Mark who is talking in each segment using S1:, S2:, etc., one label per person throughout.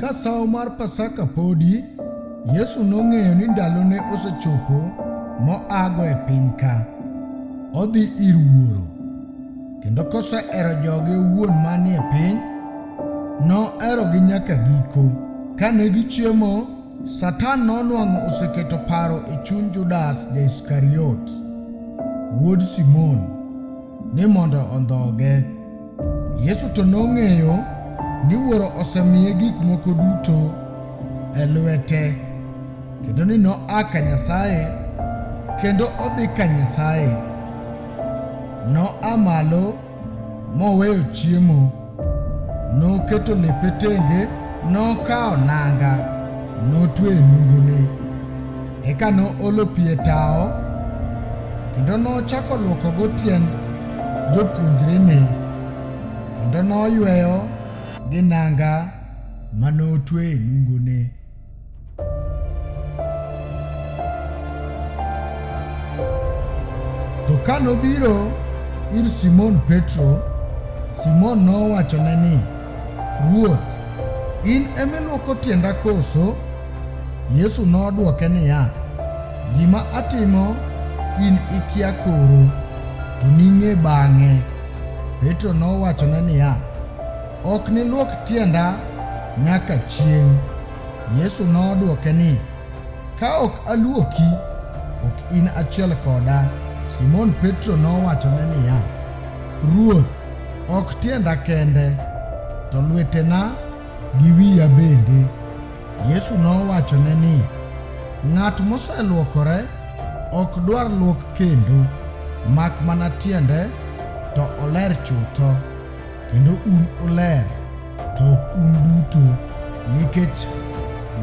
S1: Ka sawo mar Pasaka podi, Yesu nong'eyo ni ndalone osechopo moago e piny ka. Odhi ir Wuoro. Kendo kosehero joge owuon manie piny, noherogi nyaka giko. Kane gichiemo, Satan nonwang'o oseketo paro e chuny Judas Ja-Iskariot, wuod Simon, ni mondo ondhoge. Yesu to nong'eyo ni Wuoro osemiye gik moko duto e lwete kendo ni noa ka Nyasaye kendo odhi ka Nyasaye. Noa malo moweyo chiemo, noketo lepe tenge, nokawo nanga, notwe e nungone. Eka noolo pi e tawo kendo nochako lwokogo tiend jopuonjrene kendo noyweyo gi nanga ma notwe e nungone. To ka nobiro ir Simon Petro, Simon nowachone ni, Ruoth, in emiluoko tienda koso? Yesu nodwoke niya, Gima atimo in ikia koro, to ning'e bang'e. Petro nowachone niya, Ok nilwok tienda nyaka chieng'. Yesu nodwoke ni, Ka ok alwoki, ok in achiel koda. Simon Petro nowachone niya, Ruoth, ok tienda kende, to lwetena gi wiya bende. Yesu nowachone ni, Ng'at moselwokore ok dwar luok kendo, mak mana tiende to oler chutho, kendo un uler, to ok un duto, nikech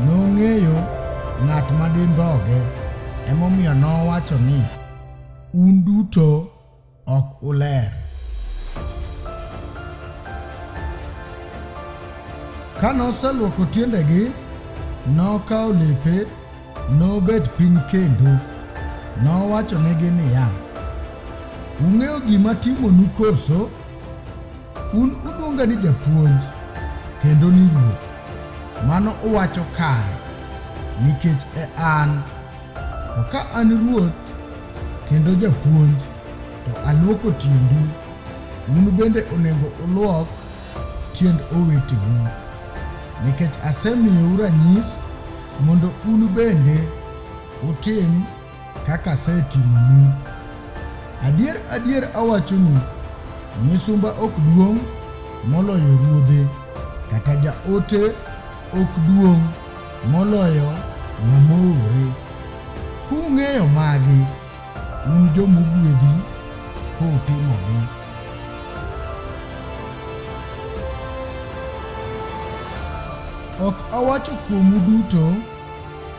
S1: nong'eyo ng'at ma dindhoge, emomiyo nowacho ni, Un duto ok uler. Ka noselwoko tiendegi, nokawo lepe, nobet piny kendo. Nowachonegi niya, Ung'eyo gima timonu koso? Un uluonga ni japuonj kendo ni ruoth. Mano uwacho kare, nikech e an. To ka an ruoth kendo japuonj, to alwoko tiendu, un bende onego ulwok tiend oweteu, nikech asemiyou ranyis mondo un bende utim kaka asetimonu. Adier adier awachonu, misumba ok duong' moloyo ruodhe, kata jaote ok duong' moloyo ng'ama oore. Kung'eyo magi, un joma ogwedhi kutimogi. Ok awacho kuomu duto,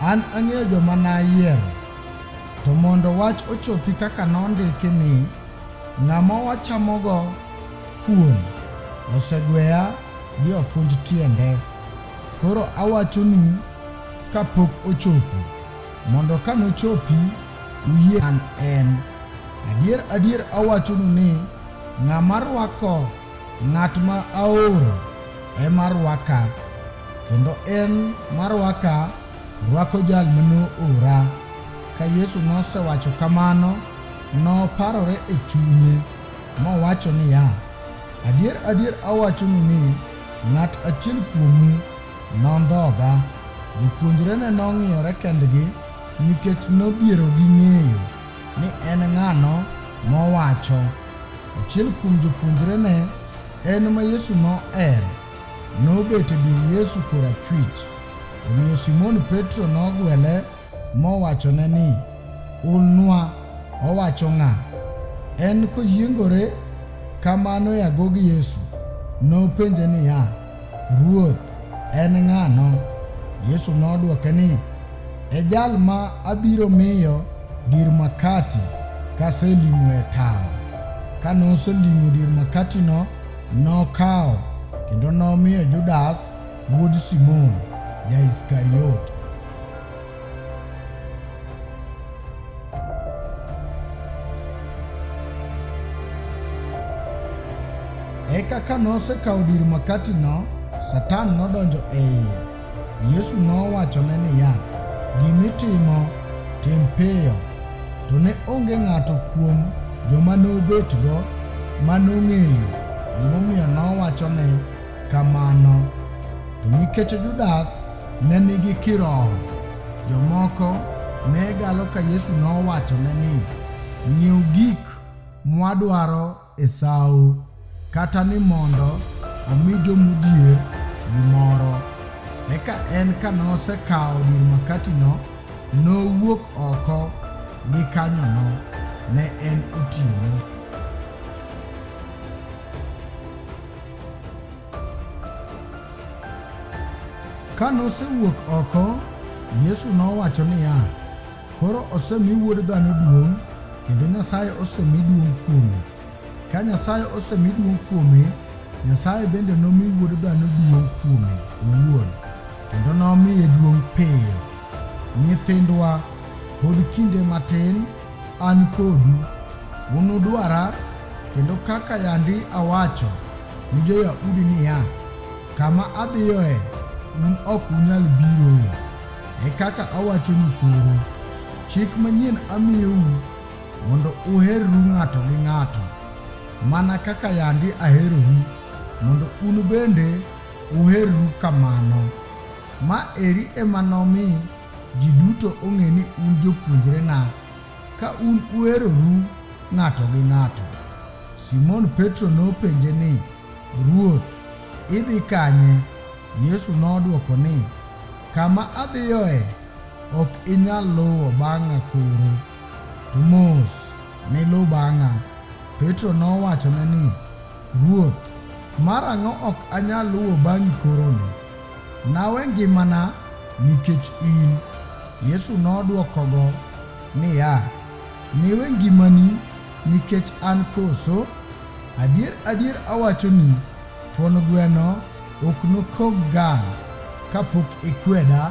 S1: an ang'eyo joma nayiero, to mondo wach ochopi kaka nondiki ni, Ng'ama wachamogo kuon osegweya gi ofunj tiende. Koro awachonu kapok ochopo, mondo ka nochopi uyie an en. Adier adier awachonu ni ng'ama rwako ng'at ma aoro ema rwaka, kendo en marwaka rwako jal ma noora. Ka Yesu nosewacho kamano, noparore e chunye mowacho niya, Adier, adier awachonu ni ng'at achiel kuomu nondhoga. Jopuonjrene nong'iyore kendgi nikech nodhiero gi ng'eyo ni en ng'ano mowacho. Achiel kuom jopuonjrene en ma Yesu nohero, nobet e dir Yesu korachwich. Omiyo Simon Petro nogwele mowachone ni, Ulnwa owacho ng'a? En koyiengore kamano e agog Yesu, nopenje niya, Ruoth, en ng'ano? Yesu nodwoke ni, E jal ma abiro miyo dir makati kaseling'o e tawo. Ka noseling'o dir makatino, nokawo kendo nomiyo Judas Wuod Simon Ja-Iskariot. Eka ka nosekawo dir makatino, Satan nodonjo e iye. Yesu nowachone niya, Gimitimo, tim piyo. To ne onge ng'ato kuom joma nobetgo ma nong'eyo gimomiyo nowacho ni kamano. To nikech Judas ne nigi kiroho, jomoko ne galo ka Yesu nowachone ni, Ng'iew gik mwadwaro e sawo, kata ni mondo omi jomodhier gimoro. Eka en ka nosekawo dir makatino, nowuok oko gi kanyono. Ne en otieno. Ka nosewuok oko, Yesu nowacho niya, Koro osemi wuod dhano duong', kendo Nyasaye osemi duong' kuome. Ka Nyasaye osemi duong' kuome, Nyasaye bende nomi wuod dhano duong' kuome owuon, kendo nomiye duong' piyo. Nyithindwa, pod kinde matin An kodu, unudwara, kendo kaka yandi awacho ni jo-Yahudi niya, Kama adhiyoe, un ok unyal biroe. E kaka awachonu koro, chik manyien amiyou mondo uherru ng'ato gi ng'ato, mana kaka yandi aherou, mondo un bende uherru kamano. Ma eri ema nomi Ji duto ong'e ni un jopuonjrena ka un uheroru ng'ato gi ng'ato. Simon Petro nopenje ni, Ruoth, idhi kanye? Yesu nodwoko ni, Kama adhiyoe ok inyal luwo bang'a koro, to mos niluw bang'a. Petro nowachone ni, Ruoth, marang'o ok anyal luwo bang'i koroni? Nawe ngimana nikech in. Yesu nodwokogo niya, Niwe ngimani nikech an koso? Adier, adier awachoni, thuon gweno ok nokog gang' kapok ikweda